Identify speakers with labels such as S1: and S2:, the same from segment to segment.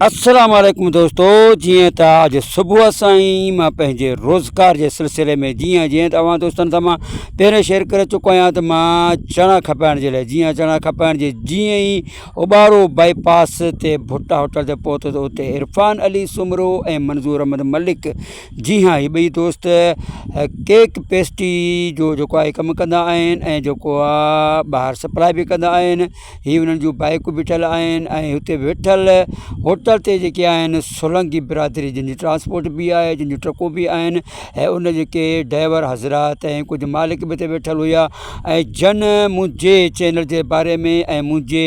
S1: السلام عليڪم دوستو جيئن ته اڄ صبح سان ئي مان پنهنجي روزگار جي سلسلي ۾ جيئن جيئن ته اوهان دوستن سان مان پهرين شيئر ڪري چڪو آهيان ته مان چڻا کپائڻ جي لاء جيئن چڻا کپائڻ جي جيئن ئي اوٻارو باء پاس تي ڀٽا هوٽل تي پهتو ته اتي عرفان علي سومرو ۽ منظور احمد ملڪ جي ها هي ٻئي دوست ڪيڪ پيسٽري جو جيڪو آهي ڪم ڪندا آهن ۽ جيڪو آهي ٻاهر سپلائي به ڪندا آهن هي انهن جون بائيڪون ٻيٺل آهن ۽ هتي ويٺل هوٽل تي جيڪي آهن سولنگي برادري جن جي ٽرانسپورٽ بي آهي جن جون ٽرڪون بي آهن ۽ ان جيڪي ڊائيور حضرات ۽ ڪجهه مالڪ به هتي ويٺل هيا ۽ جن منهنجي چينل جي باري ۾ ۽ منهنجي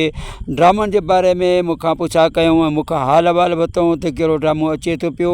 S1: ڊرامن جي باري ۾ مون کان پڇا ڪيائون ۽ مون کان حال احوال ورتائون ته ڪهڙو ڊرامو اچي ٿو پيو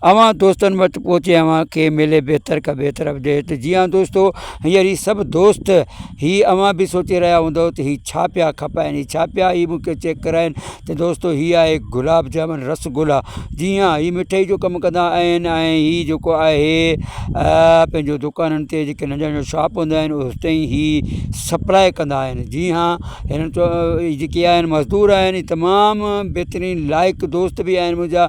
S1: اوهان دوستن وٽ پهچي اوهان کي ملي بهتر کان بهتر اپڊيٽ جي هان دوستو هينئر هي سڀ دوست هي اوهان به سوچي رهيا هوندو ته هي ڇا پيا کپائن هي ڇا پيا هي مونکي چيڪ ڪرائن ته دوستو هي آهي گلاب جامن رس گلا جي ها هي مٺائي جو ڪم ڪندا آهن ۽ هي جيڪو آهي پنهنجو دوڪانن تي جيڪي ننڍا ننڍا شاپ هوندا آهن اتي ئي هي سپلاء ڪندا آهن جي ها هنن چيو جيڪي آهن مزدور آهن تمام بهترين لائق دوست به آهن منهنجا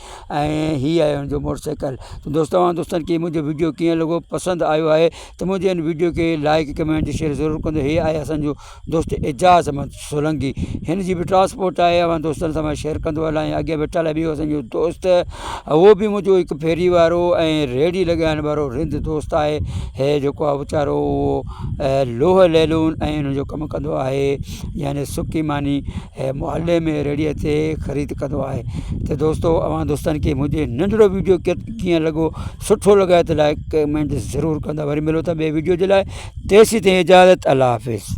S1: ۽ هي آهي هن جو موٽر سائيڪل ته دوست اوهان دوستن کي منهنجو وڊيو ڪيئن لڳو پسند آيو آهي ته منهنجي هن وڊيو کي لائڪ ڪمينٽ شيئر ضرور ڪندو هي آهي اسانجو دوست اعجاز احمد سولنگي هن جي به ٽرانسپورٽ آهي اوهان دوستن سان شيئر ڪندو هلان اڳيان ويٺل آهي ٻيو اسانجو دوست هو به منهنجو هڪ ڦيري وارو ۽ ريڙهي لڳائڻ وارو رند دوست آهي هي جيڪو آهي ويچارو لوهه ليلون ۽ هن جو ڪم ڪندو آهي يعني سڪي ماني هي محلي ۾ ريڙهي تي خريد ڪندو آهي ته دوستو اوهان دوستن کي منهنجي ننڍڙو وڊيو ڪيئن لڳو سٺو لڳائي ته لائڪ ڪمينٽ ضرور ڪندا وري ملون ٿا ٻي وڊيو جي لاء تيسين تائين اجازت الله حافظ